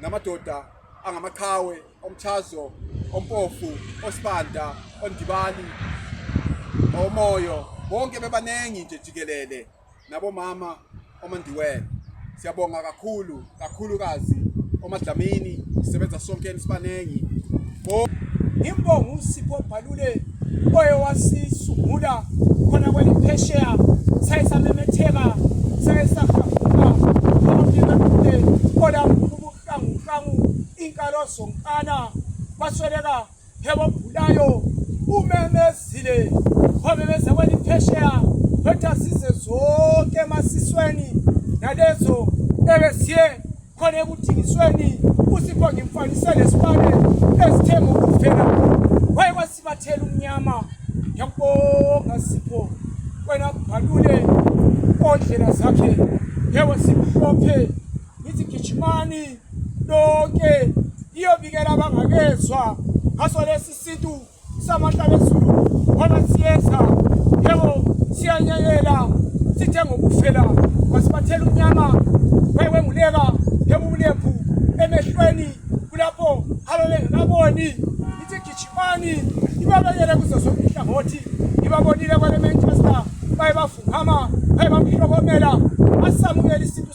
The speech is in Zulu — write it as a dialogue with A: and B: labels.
A: namadoda angamaqhawe omchazo ompofu osibanda ondibali omoyo bonke bebaningi nje jikelele nabomama omandiwele siyabonga kakhulu kakhulukazi omadlamini sisebenza sonke sibaningi
B: Imbongo uSipho Bhalule oye wasisungula khona kweliphesheya saye samemetheka saye sahafuka bonke bekude kola ubuhlanguhlangu inkalo zonkana basweleka hebobhulayo umemezile wamemeza kweliphesheya wetha size zonke emasisweni nalezo ebesiye khona ekuthingisweni usipho ngimfanisele esibane ezithe ngokuvela waye kwasibathela umnyama ngiyakubonga sipho wena bhalule ondlela zakhe yewe simhlophe ngithi gijimani lonke iyobikela abangakezwa ngaso lesi sintu samandla lezulu ngoba siyeza yebo siyanyekela sithe ngokufela wasibathela unyama wewenguleka yebo ubulephu emehlweni kulapho ababengekaboni ithi gijimani ibabekele kuzo zonke inhlangothi ibabonile kwale manchester baye bavukama baye bamhlokomela asamukela isintu